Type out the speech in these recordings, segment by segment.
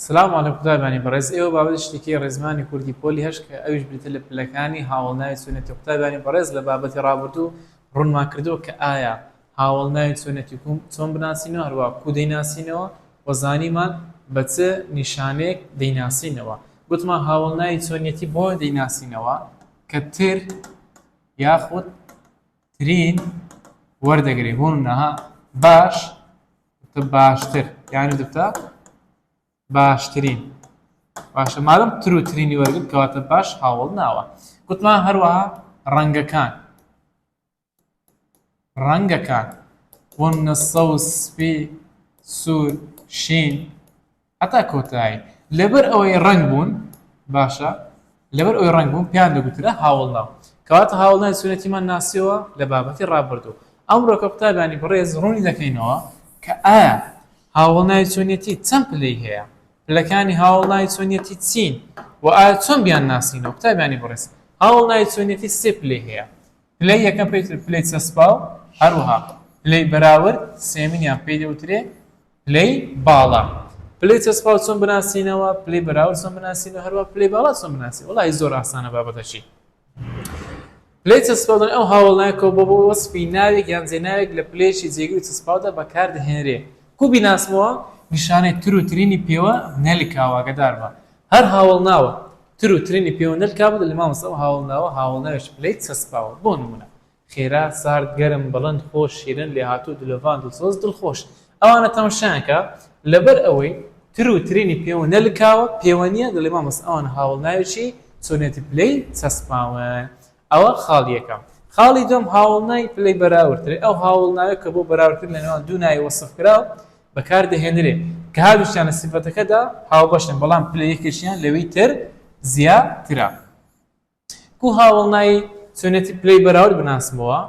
سلام علیک قوتابیانی بەڕێز ئێوە بابەتی شتەکی ڕێزمانی کوردی پۆلی هەشت کە ئەویش بریتە لە پلەکانی هاوەڵناوی چۆنێتی قوتابیانی بەڕێز لە بابەتی ڕابردوو ڕوونمان کردووە کە ئایا هاوەڵناوی چۆنێتی کوم چۆن بناسینەوە هەروە کو دەیناسینەوە و زانیمان بە چ نیشانەیەک دەیناسینەوە گوتمان هاوەڵناوی چۆنێتی بۆ دەیناسینەوە کە تر یاخود ترین وەردەگری بۆ منەها باش دەبتە باشتر یانی دەبتە باشترین باشە مادەم تروترینی وەرگرت کەواتە باش هاوڵ ناوە گوتمان هەروەها ڕەنگەکان ڕەنگەکان بۆ نە سەوز سپی سوور شین هەتا کۆتایی لەبەر ئەوەی ڕەنگ بوون باشە لەبەر ئەوەی ڕەنگ بوون پێیان دەگوترا هاوەڵناو کەواتە هاوەڵناوی سونەتیمان ناسیەوە لە بابەتی ڕابردوو ئەمڕۆ کە قوتابیانی بەڕێز ڕوونی دەکەینەوە کە ئایا هاوەڵناوی چۆنیەتی چەند پلەی هەیە پلەکانی هاوەڵناوی چۆنیەتی چین و ئایا چۆن بیان ناسینەوە قوتابیانی بەڕێز هاوەڵناوی چۆنیەتی سێ پلەی هەیە پلەی یەکەم پێی پلەی چەسپاو هەروەها پلەی بەراورد سێمینیان پێی دەوترێ پلەی باڵا پلەی چەسپاو چۆن بناسینەوە پلەی بەراورد چۆن بناسینەوە هەروە پلەی باڵا چۆن بناسین وڵی زۆر ئاسانە بابەتەشی پلەی چەسپاودن ئەو هاوڵنایکەوە بۆ بۆ وەسپی ناوێک یان جێناوێک لە پلێشی جێگوی چەسپاودا بەکاردهێنرێ کو بیناسمەوە نیشانەی تر و ترینی پێوە نەلکاواگەدار بە هەر هاوڵ ناوە تر و ترینی پێوە نەلکا بوو لە مامەسەوە هاوڵ ناوە هاوڵناوێش پلەی چەسپاوە بۆ نمونە خێرا سارد گەرم بڵند خۆش شیرن لێهاتوو دلۆڤان دڵسۆز دڵخۆش ئەوانە تەمشایان کە لەبەر ئەوەی تر و ترینی پێوە نەلکاوە پێوە نیە دەڵێ مامۆستا ئەوانە هاوەڵ ناوی چی چۆنێتی پلەی چەسپاون ئەوە خاڵی یەکەم خاڵی دووەم هاوەڵ ناوی پلەی بەراوردترێ ئەو هاوەڵ ناوێ کە بۆ بەراوردکردن لە نێوان دوو ناوی وەسفکراو بەکار دەهێنرێ کە هەردووکیان لە سیفەتەکەدا هاوبەشن بەڵام پلە یەکێکیان لەوی تر زیاترە کو هاوەڵنای چۆنیەتی پلەی بەراورد بناسمەوە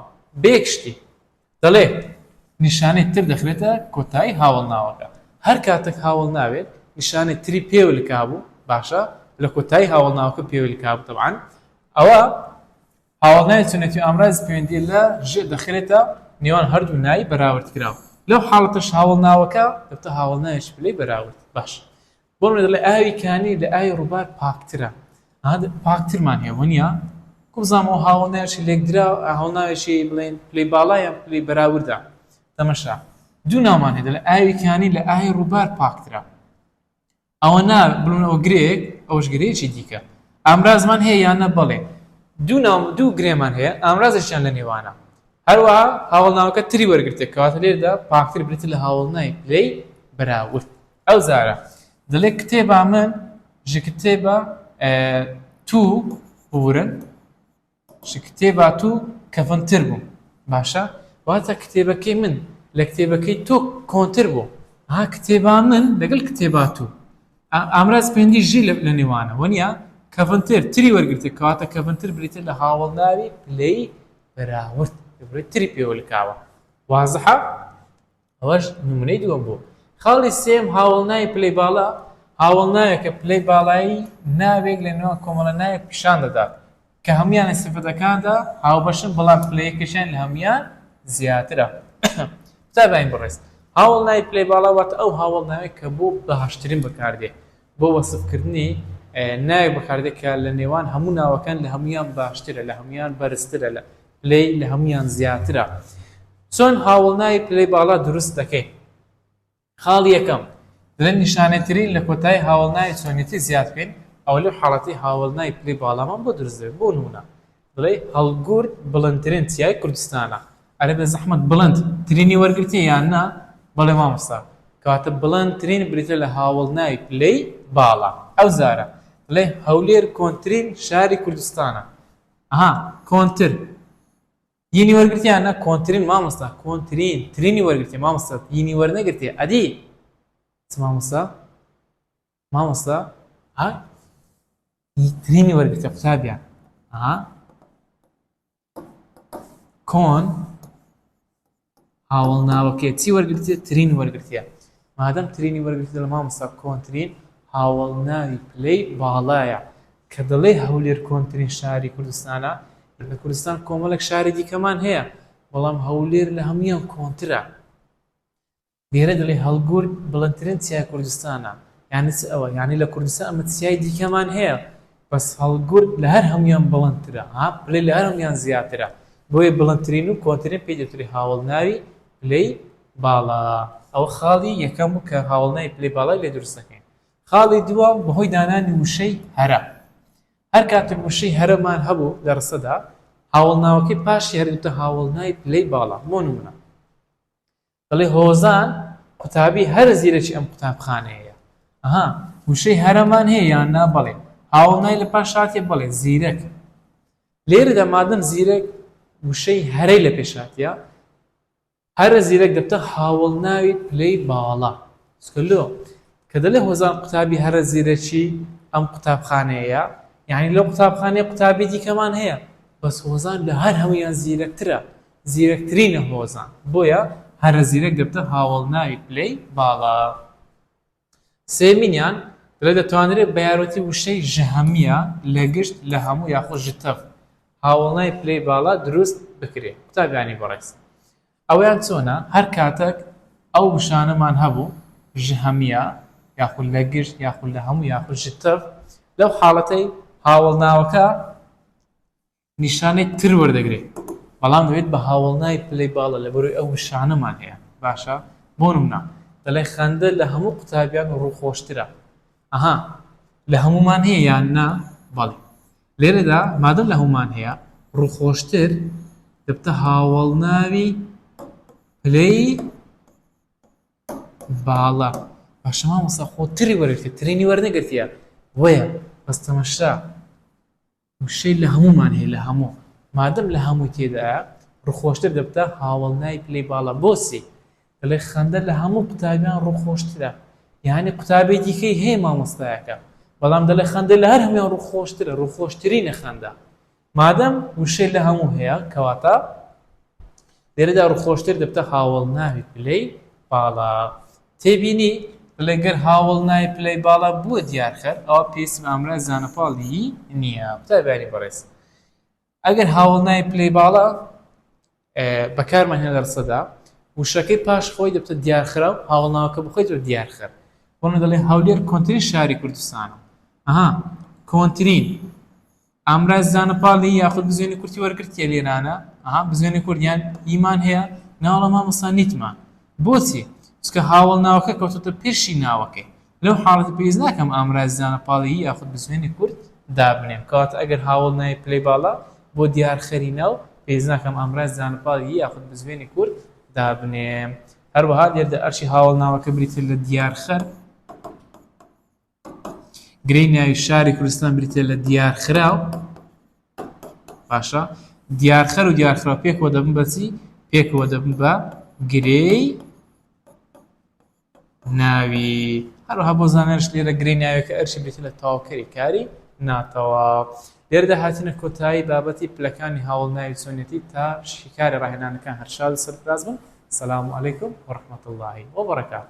بە یەک شتی دەڵێ نیشانەی تر دەخرێتە کۆتایی هاوەڵناوەکە هەر کاتەک هاوەڵناوێک نیشانەی تری پێوە لکابوو باشە لە کۆتایی هاوەڵناوەکە پێوە لکابوو تەبعەن ئەوە هاوەڵناوی چۆنیەتی ئامرازی پەیوەندی لە ژێ دەخرێتە نێوان هەردوو نای بەراورد کراو لەو حاڵەتەش هاوەڵناوەکە دەبتە هاوەڵناوێکی پلەی بەراورد باشە بۆ منە دەڵێ ئاوی کانی لە ئاوی ڕووبار پاکترە پاکترمان هەیە وەنیە کوبزانەوە هاوڵناوێکی لێکدرا هەڵناوێکی بڵێن پلی باڵایە پلی بەراوردە تەمەشا دوو نامان هێدە لە ئاوی کانی لە ئاهی ڕووبار پاکترە ئەوە نا بڵونەوە گرێک ئەوش گرێکی دیکە ئامرازمان هەیە یانە بەڵێ دوو ناو دوو گرێمان هەیە ئامرازشیان لە نێوانە هەروە هاوڵناوەکە تری وەرگرتێک کەواتە لێردا پاکتر برێت لە هاوڵنای پلەی بەراورد ئەو زارە دەلێ کتێبا من ژ کتێبا توو بورن ژ کتێبا توو کەڤنتر بوو باشە واتە کتێبەکەی من لە کتێبەکەی تۆ کۆنتر بوو ها کتێبا من لەگەل کتێبا توو ئامراز پێندی ژی لە نێوانە وەنیا کەڤنتر تری وەرگرتە کەواتە کەڤنتر بریتە لە هاوڵناوی پلەی بەراورد تری پێوەلکاوە وازحە ئەوەش نمونەی دووەم بوو. خاڵی سێیەم هاوەڵناوی پلەی باڵا، هاوەڵناوێکە پلەی باڵایی ناوێک لە نێوان کۆمەڵە ناوێک پیشان دەدات کە هەموویان لە سیفەتەکاندا هاوبەشن بەڵام پلەیەکەشیان لە هەموویان زیاترە. قوتابیانی بەڕێز هاوەڵناوی پلەی باڵا واتە ئەو هاوەڵناوەی کە بۆ باشترین بەکاردێ بۆ وەسفکردنی ناوێک بەکاردێت کە لە نێوان هەموو ناوەکان لە هەموویان باشترە لە هەموویان بەرزترە لە پلەی لە هەموویان زیاترە چۆن هاوڵناوی پلەی باڵا دروست دەکەین خاڵ یەکەم لە نیشانەترین لە کۆتایی هاوڵناوی چۆنێتی زیاد بکەین ئەو لەو حاڵەتی هاوڵناوی پلەی باڵامان بۆ دروست دەبێت بۆ نمونە بڵێی هەڵگورد بڵندترین چیای کوردستانە ئەرێ بێزەحمەت بڵند ترینی وەرگرتیە یان نا بەڵێ مامۆستا کەواتە بڵند ترین بریتیە لە هاوەڵناوی پلەی باڵا ئەوجارە دەڵێی هەولێر کۆنترین شاری کوردستانە ئەها کۆنتر ینی وەرگرتیە یان نا کۆنترین مامۆستا کۆنترین ترینی وەرگرتیە مامۆستا ینی وەرنەگرتیە ئەدی چ مامۆستا مامۆستا ها گرینی وەرگتە قوتابیان ها کۆن هاوڵ ناوەکە چی وەرگرتێ ترین وەرگرتە مادەم ترینی وەرگرتە لە مامۆستا کۆنترین هاوڵ ناوی پلەی باڵایە کە دەڵێ هەولێر کۆنترین شاری کوردستانە لە کوردستان کۆمەڵێک شاری دیکەمان هەیە بەڵام هەولێر لە هەمویان کۆنترە لێرە دەڵێ هەڵگورد بڵندترین چیای کوردستانە یانی چ ئەوە یانی لە کوردستان ئەمە چیای دیکەمان هەیە بەس هەڵگورد لە هەر هەموویان بڵندترە ها پلەی لە هەر هەموویان زیاترە بۆیە بڵندترین و کۆنترین پێی دەوترێ هاوەڵناوی پلەی باڵا ئەوە خاڵی یەکەم بوو کە هاوەڵناوی پلەی باڵای لێ دروست دەکەین خاڵی دووەم بەهۆی دانانی وشەی هەرە هەر کاتێک وشەی هەرەمان هەبوو لە ڕسەدا هاوەڵناوەکەی پاشی هەر دەوتە هاوەڵناوی پلەی باڵا بۆ نمونە دەڵێ هۆزان قوتابی هەرە زیرەکی ئەم قوتابخانەیە ئەها وشەی هەرەمان هەیە یان نا بەڵێ هاوڵنای لە پاش هاتێ بەڵێ زیرەک لێرەدا مادەم زیرەک وشەی هەرەی لە پێشاتە هەرە زیرەک دەبتە هاوڵ ناوی پلەی باڵا سکلۆ کە دەلێ هۆزان قوتابی هەرە زیرەکی ئەم قوتابخانەیە یعنی لەو قوتابخانەیە قوتابی دیکەمان هەیە بەس هۆزان لە هەر هەمویان زیرەکترە زیرەکترینە هۆزان بۆیە هەرە زیرەک دەبتە هاوەڵناوی پلەی باڵا سێمینیان دەڵێت دەتوانرێت بە یارمەتی وشەی ژەهمیە لە گشت لە هەموو یاخود ژتەڤ هاوەڵناوی پلەی باڵا دروست بکرێت قوتابیانی بەڕێز ئەویان چۆنە هەر کاتەک ئەو وشانەمان هەبوو ژەهمیە یاخود لە گشت یاخود لە هەموو یاخود ژتەڤ لەو حاڵەتەی هاوەڵناوەکە نیشانەی تر وەردەگرێت بەڵام دەبێت بە هاوەڵناوی پلەی باڵا لەبەرئەوەی ئەو نیشانەمان هەیە باشە بۆ نمونە دەڵێ خەندە لە هەموو قوتابیان ڕووخۆشترە ئەها لە هەمومان هەیە یان نا بەڵێ لێرەدا مادەم لە هەمومان هەیە ڕووخۆشتر دەبتە هاوەڵناوی پلەی باڵا باشەما مەسا خۆتری وەرگتە ترینی وەرنەگرتیە وەیە بەستەمەشرا وشەی لە هەموومان هەیە لە هەموو مادەم لە هەمووی تێدایە ڕوخۆشتر دەبتە هاوەڵ ناوی پلەی باڵا بۆچی دەڵێ خەندە لە هەموو قوتابیان ڕوخۆشترە یانی قوتابی دیکەی هەیە مامۆستایەکە بەڵام دەڵێ خەندە لە هەر هەموویان ڕوخۆشترە ڕوخۆشترینە خەندە مادەم وشەی لە هەموو هەیە کەواتە لێرەدا ڕوخۆشتر دەبتە هاوەڵ ناوی پلەی باڵا. تێبینی، بڵێ گەر هاوەڵ ناوی پلەی باڵا بووە دیارخەر ئەوا پێویستم ئامراز زانەپاڵ ی نییە. قوتابیانی بەڕێز ئەگەر هاوەڵ ناوی پلەی باڵا بەکارمان هێنا لە ڕستەدا وشەکەی پاش خۆی دەبتە دیارخرا و هاوەڵ ناوەکە بخۆیت و دیارخەر بۆنە دەڵێ هەولێر کۆنترین شاری کوردستانە ئەها کۆنترین ئامراز زانە پاڵ ی یاخود بزوێنی کورتی وەرگرتیە لێرانە ئەها بزوێنی کورت یان ی مان هەیە ناوەڵا مامۆستا نیتمان بۆچی چونکە هاوەڵ ناوەکە کەوتۆتە پێشی ناوەکەی لەو حاڵەتە پێویست ناکەم ئامرازی زانە پاڵ ی یاخود بزوێنی کورت دابنێم کەواتە ئەگەر هاوەڵ ناوی پلەی باڵا بۆ دیار خەری ناو پێویست ناکەم ئامرازی زانە پاڵ ی یاخود بزوێنی کورت دابنێم هەروەها لێردا ئەرکی هاوەڵ ناوەکە بریتیە لە دیار خەر. گرێی ناوی شاری کوردستان بریتیە لە دیارخراو باشە دیارخەر و دیارخراو پێکەوە دەبن بەچی پێکەوە دەبن بە گرێی ناوی هەروها بۆ زانێرش لێرە گرێی ناوێکە ئەرشی بێت لە تاوکەری کاری ناتەوە لێردا هاتینە کۆتایی بابەتی پلەکانی هاوڵ ناوی چۆنێتی تا شیکاری ڕاهێنانەکان هەرشاد سەرفراز بن سلام علیکم و رحمت اللهی و بەڕکات